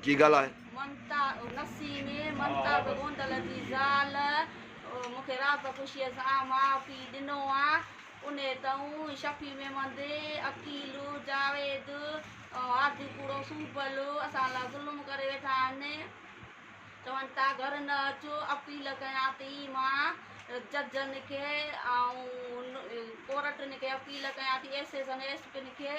جي ڳالهه آهي. ممتا نسيم ممتا به گوندل جي زال مون کي راب خوشيء سان ماء پيء ڏنو آ انهي تئون شفيع ميمند عقيل جاويد هادي ڪوڙو سوبل اسان لا ظلم ڪري ويٺا آهن چون ٿا گهر نه اچو اپيل ڪيان ٿي مان ججن کي ۽ ڪورٽن کي اپيل ڪيان ٿي ايس ايس اين ايس پين کي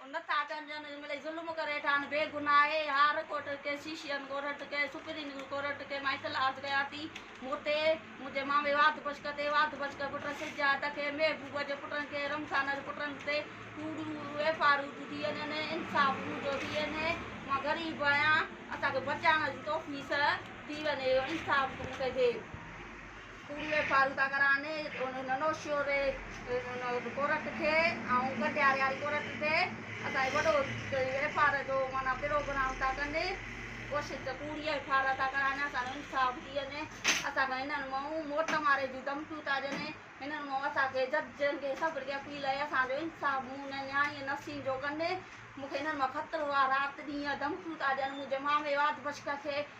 او نٿا ڪن جن ملئي ظلم ڪري ٺان بي گناھ اي ھار ڪورٽ ڪي سيشين ڪورٽ ڪي سپرين ڪورٽ ڪي مائيڪل عرض ڪيا تي موتي منھنجي مامي واڌ بشڪ تي واڌ بشڪ پٽن سجا تکي محبوب جي پٽن کي رمضان جي پٽن تي ڪوڙيون ويپاريون ٿي ٿين ھن انصاف منھنجو ٿي ھن مان غريب آھيان اسان کي بچائڻ جي توفيس ٿي وڃي انصاف مونکي ٿي. پورهيي فارودا گهراڻي ننوشيو ري ڪورٽ کي ۽ گنڊياري واري ڪورٽ تي اسان وڏو ايف آر جو معنيٰ پروگرام ٿا ڪن ڪوشش ته پورهيي ايف آر ٿا ڪرائن اسان جو انصاف ٿي وڃي اسان کي هنن مئون موٽ ماري جون ڌمڪيون ٿا ڏين هنن مئون اسان کي جج جن کي سڀ کي اپيل آهي اسان جو انصاف مون هن نياڻي نسيم جو ڪن مون کي هنن مان خطرو آهي رات ڏينهن ڌمڪيون ٿا ڏين منهنجي مامي واڌ پڇڪ کي